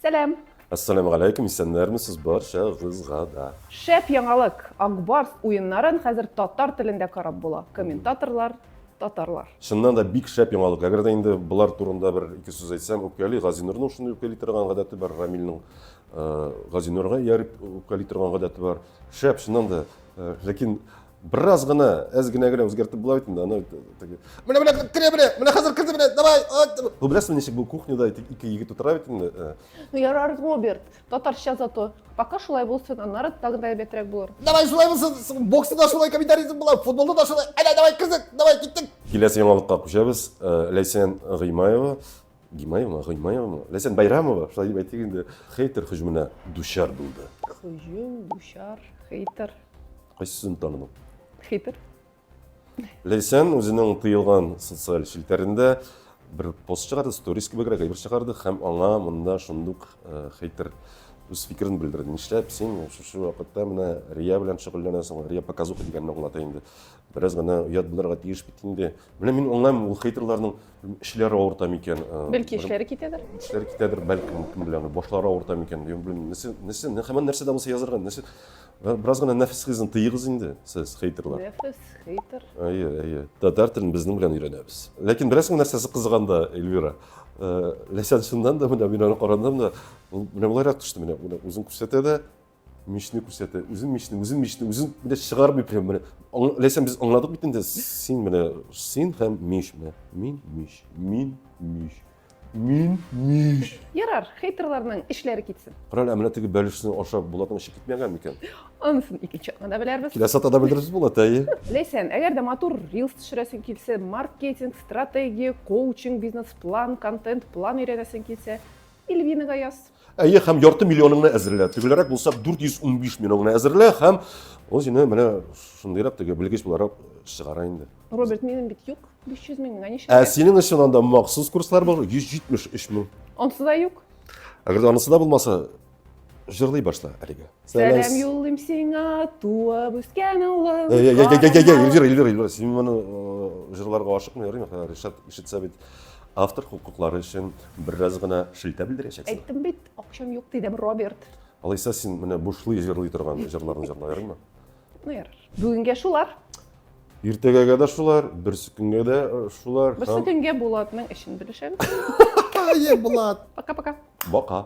Сәлам! Ассаляму галәйкүм, исәннәрмесез барча гызга да. Шәп яңалык! Ак Барс уеннарын хәзер татар телендә карап була. Комментаторлар, татарлар. Чыннан да бик шәп яңалык. Әгәр дә инде болар турында бер ике сүз әйтсәм, үпкәли, Газинурның шундый үпкәли торган гадәте бар, Рамилнең Газинурга ияреп үпкәли торган гадәте бар. Шәп, чыннан да. Ләкин Бераз гына, әз генә генә үзгәртеп була бит инде, аны теге. Менә менә керә менә, менә хәзер керде менә, давай. Бу беләсезме ничек бу кухняда ике егет утыра бит инде. Э. Ну ярар, Роберт, татарча зато. Пока шулай булсын, аннары тагы да әйбәтрәк булыр. Давай шулай булсын, бокста да шулай комментаризм була, футболда да шулай. Әйдә, давай кызык, давай киттек. Киләсе яңалыкка күчәбез. Э, Ләйсән Гыймаева Гимаевмы, Гыймаевмы? Ләйсән Байрамова, шулай дип әйтик инде, хейтер һөҗүменә дучар булды. Һөҗүм, дучар, хейтер. Кайсысын таныдың? Хейтер. Ләйсән үзенең тыелган социаль челтәрендә бер пост чыгарды, сторис кебегрәк әйбер чыгарды һәм аңа монда шундук э, хейтер үз фикерен белдерде. Нишләп син шушы вакытта менә Рия белән шөгыльләнәсең? Рия показуха дигәнне аңлата инде. Бераз гына оят булырга тиеш бит инде. Менә мин аңлаймын, ул хейтерларның эшләре авырта микән? Э, Бәлки эшләре китәдер? Эшләре китәдер, бәлки мөмкин белән башлары авырта микән? Дим, белмим. Нәрсә, нәрсә, һәм нәрсә дә булса язарга, нәрсә? Бераз гына нәфис хизен тыйыгыз инде, сез хейтерлар. Нәфис хейтер. Әйе, әйе. Татар телен безнең белән өйрәнәбез. Ләкин бераз гына нәрсәсе кызыганда, Эльвира. Э, Ләсән шуннан да менә мин аны карадым да, менә буларак төште менә, үзен күрсәтә дә, Мичне күрсәтә. Үзен мичне, үзен мичне, үзен менә чыгармый прям менә. Ләсән без аңладык бит инде. Син менә син һәм мич менә. Мин мич. Мин мич. Мин мич. Ярар, хейтерларның эшләре китсен. Карале, менә теге бәлешне ашап Булатның эше китмәгән микән? Анысын икенче атнада белербез. Киләсе атнада белербез Булат, әйе. Ләсән, әгәр дә матур рилс төшерәсең килсә, маркетинг, стратегия, коучинг, бизнес-план, контент-план өйрәнәсең килсә, Ильвинага яз. Әйе, һәм ярты миллионыңны әзерлә. Төгелерәк булса 415 миллионыңны әзерлә һәм ул сине менә шундыйрак теге белгеч буларак чыгара инде. Роберт, минем бит юк. 500 мең генә ничә? Ә синең өчен анда махсус курслар бар 173 мең. Онсы да юк. Әгәр дә анысы да булмаса, җырлый башла әлегә. Сәлам юллыйм сиңа, туып үскән улым. Эльвира, Эльвира, Эльвира, син моны җырларга ашыкмый йөрим, Ришат ишетсә бит автор хокуклары өчен бераз гына шелтә белдерәчәксең. Әйттем бит, акчам юк дидем, Роберт. Алайса син менә бушлый җырлый торган җырларны җырла ярыймы? Ну ярар. Бүгенгә шулар. Иртәгәгә дә шулар, берсе көнгә дә шулар. Берсе көнгә Булатның эшен белешәбез. Ай, Булат. Пока-пока. Бока.